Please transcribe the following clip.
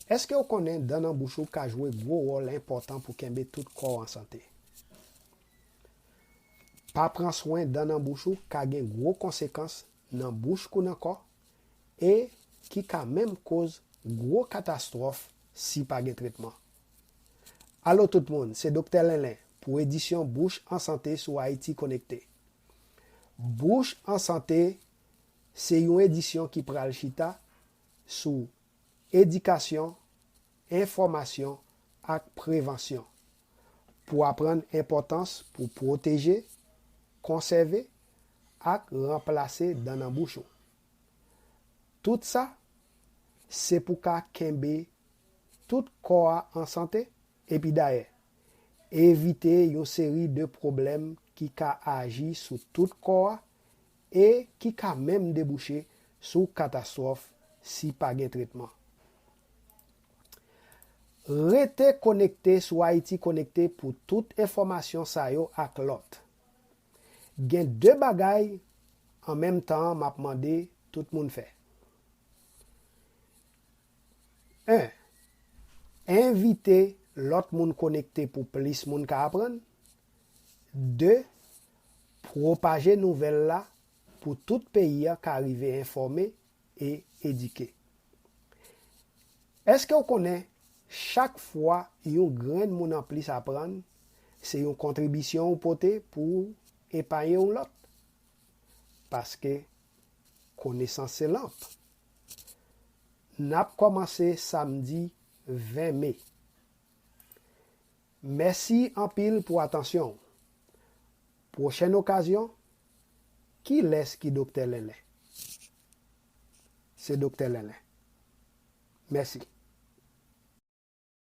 Èske w konnen dan nan bouch ou ka jwe gwo wòl enpòtan pou kenbe tout kò w an sante? Pa pran swen dan nan bouch ou ka gen gwo konsekans nan bouch kou nan kò e ki ka menm koz gwo katastwòf si pa gen tretman. Alo tout moun, se Doktè Lenlen pou edisyon Bouch an Sante sou Ayiti Konekte. Bouch an Sante se yon edisyon ki pral chita sou edikasyon, enfòmasyon ak prevansyon pou aprann enpòtans pou pwoteje, konsève ak ranplase dan nan bouch ou. Tout sa, se pou ka kenbe tout kò a an sante epi dayè, evite yon seri de pwoblèm ki ka aji sou tout kò a e ki ka menm debouche sou katastwòf si pa gen tretman. Rete konekte sou Ayiti Konekte pou tout enfòmasyon sa yo ak lòt. Gen 2 bagay an menm tan an m ap mande tout moun fè. 1, Envite lòt moun konekte pou plis moun ka aprann. 2, Pwopaje nouvèl la pou tout peyi a ka rive enfòme e edike. Èske w konnen chak fwa yon grenn moun anplis aprann, se yon kontribisyon ou pote pou w epaye yon lòt? Paske konesans se lanp. N ap kòmanse samdi 20 me. Mèsi anpil pou atansyon w. Pwochèn okazyon, Kilès ki Doktè Lèlè? Se Doktè Lèlè. Mèsi.